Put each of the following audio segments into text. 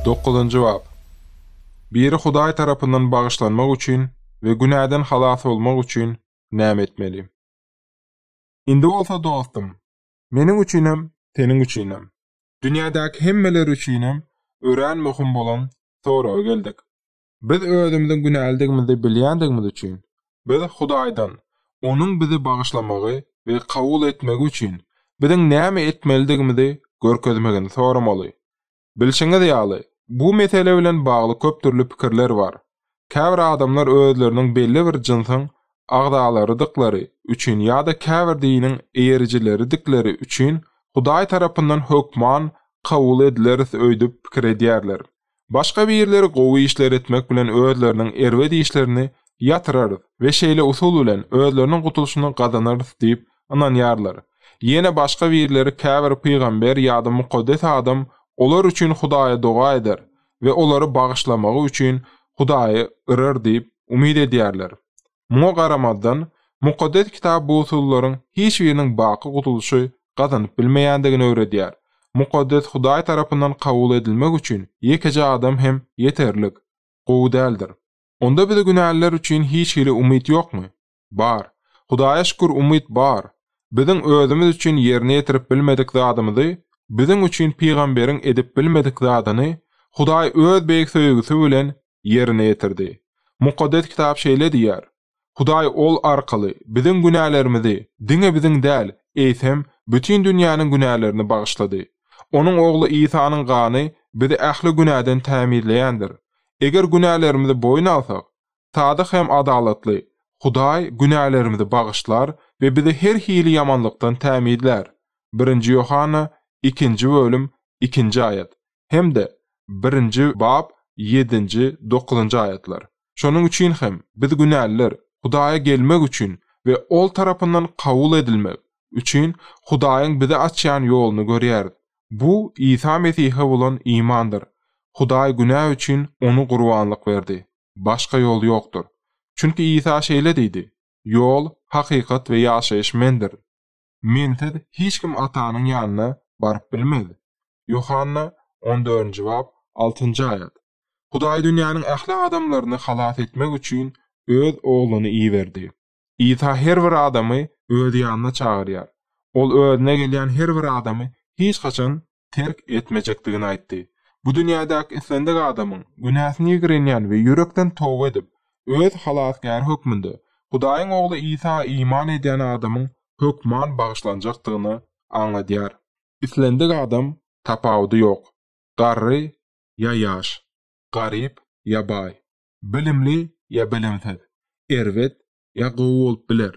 Dokuzynjy bap. Biri Hudaý tarapyndan bagyşlanmak üçin we günäden halas bolmak üçin näme etmeli? Indi bolsa dostum, meniň üçinem, seniň üçinem, dünýädäki hemmeler üçinem örän möhüm bolan soraga geldik. Biz özümiziň günälidigimizi bilýändigimiz üçin, biz Hudaýdan Onuň bizi bagyşlamagy we kabul etmegi üçin biziň näme etmelidigimizi görkezmegini soramaly. Bilşiňiz ýaly, bu mesele bilen bagly köp dürli pikirler bar. Käbir adamlar özleriniň belli bir jynsyň agzalarydyklary üçin ýa-da käbir diniň eýerijileridikleri üçin Hudaý tarapyndan hökman kabul edileris öýdüp pikir edýärler. Başga birleri gowy işler etmek bilen özleriniň erbet işlerini ýatyrarys we şeýle usul bilen özleriniň gutulyşyny gazanarys diýip ynanýarlar. Ýene başga birleri käbir pygamber ýa-da mukaddes adam olar üçin Hudaýa doga eder we olary bagyşlamagy üçin Hudaýy yrar diýip umyt edýärler. Muňa garamazdan, Mukaddes Kitap bu usullaryň hiç biriniň baky gutulyşy gazanyp bilmeýändigini öwredýär. Mukaddes Hudaý tarapyndan kabul edilmek üçin ýekeje adam hem ýeterlik, gowy däldir. Onda bize günäliler üçin hiç hili umyt ýokmy? Bar. Hudaýa şükür umyt bar. Biziň özümiz üçin ýerine ýetirip bilmedik zadymyzy, biziň üçin pygamberiň edip bilmedik zadyny Hudaý öz beýik söýgüsi bilen ýerine ýetirdi. Mukaddes Kitap şeýle diýýär, Hudaý Ol arkaly biziň günälerimizi diňe biziň däl, eýsem, bütin dünýäniň günälerini bagyşlady. Onuň Ogly Isanyň gany bizi ähli günäden tämizleýändir. Eger günälerimizi boýun alsak, sadyk hem adalatly Hudaý günälerimizi bagyşlar we bizi her hili ýamanlykdan tämizlär. Birinji Ýohanna ikinji bölüm ikinji aýat. hem-de birinji bap ýedinji, dokuzynjy aýatlar. Şonuň üçin hem, biz günäliler, Hudaýa gelmek üçin we Ol tarapyndan kabul edilmek üçin Hudaýyň bize açýan ýoluny görýäris. Bu Isa Mesihe bolan imandyr. Hudaý günä üçin Ony gurbanlyk berdi. Başga ýol ýokdur. Çünki Isa şeýle diýdi, Ýol, hakykat we ýaşaýyş Mendir. Mensiz hiç kim Atanyň ýanyna baryp bilmez. Ýohanna on dördünji bap, altynjy aýat. Hudaý dünýäniň ähli adamlaryny halas etmek üçin Öz Ogluny iberdi. Isa her bir adamy Öz ýanyna çagyrýar. Ol Özüne gelýän her bir adamy hiç haçan terk etmejekdigini aýtdy. Bu dünýädäki islendik adamyň, günäsini ýigrenýän we ýürekden toba edip, öz Halasgäri hökmünde, Hudaýyň Ogly Isa iman edýän adamyň hökman bagyşlanjakdygyny aňladýar. Islendik adam tapawudy ýok, garry ýa ýaş, garyp ýa baý, bilimli ýa bilimsiz, erbet ýa gowy bolup biler.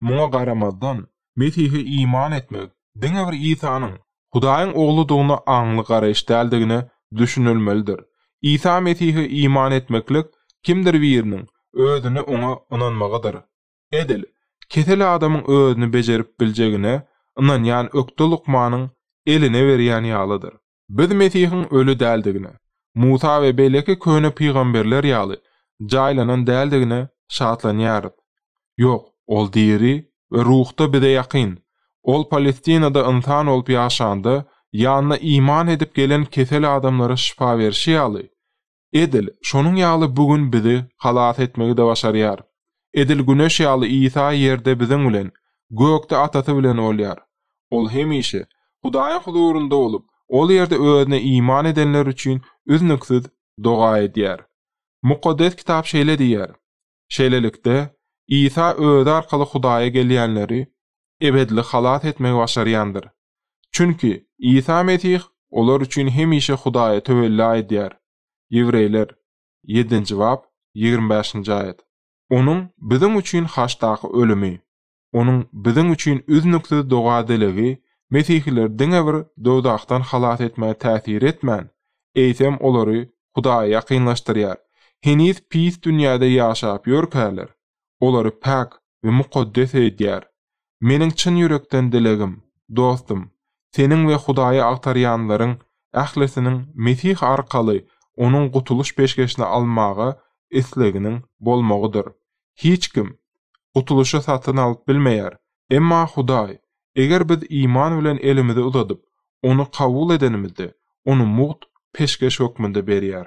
Muňa garamazdan, Mesihe iman etmek diňe bir Isanyň Hudaýyň Ogludygyna aňly garaýyş däldigine düşünilmelidir. Isa Mesihe iman etmeklik kimdir biriniň özüni oňa ynanmagydyr. Edil, kesel adamyň özüni bejerip biljegine ynanýan ökde lukmanyň eline berýän ýalydyr. Biz Mesihiň öli däldigine, Musa we beýleki köne pygamberler ýaly, jaýlanan däldigine şatlanýarys. Ýok, ol diri we ruhda bize ýakyn. Ol Palestinada ynsan bolup ýaşanda, ýanyna iman edip gelen kesel adamlara şypa berşi ýaly, Edil şonuň ýaly bu gün bizi halas etmegi-de başarýar. Edil Güneş ýaly Isa ýerde biziň bilen, gökde Atasy bilen bolýar. Ol hemişe Hudaýyň huzurynda bolup, ol ýerde Özüne iman edenler üçin üznüksiz doga edýär. Mukaddes Kitap şeýle diýýär, Şeýlelikde, Isa Özi arkaly Hudaýa gelýänleri ebedili halas etmegi başarýandyr. Çünki, Isa Mesih olar üçin hemişe Hudaýa töwella edýär. Ýewreýler, ýedinji bap, ýigrimi bäşinji aýat. Onuň biziň üçin haçdaky ölümi, Onuň biziň üçin üznüksiz doga-dilegi mesihileri diňe bir dowzahdan halas etmäge täsir etmän, eýsem olary Hudaýa ýakynlaşdyrýar. Heniz pis dünýäde ýaşap ýörkäler, olary päk we mukaddes edýär. Meniň çyn ýürekden dilegim, dostum, seniň we Hudaýy agtarýanlaryň ählisiniň Mesih arkaly Onuň gutulyş peşgeşini almaga isleginiň bolmagydyr. Hiç kim Gutulyşy satyn alyp bilmeýär. Emma Hudaý, eger biz iman bilen elimizi uzadyp, Ony kabul edenimizde, Ony mugt peşgeş hökmünde berýär.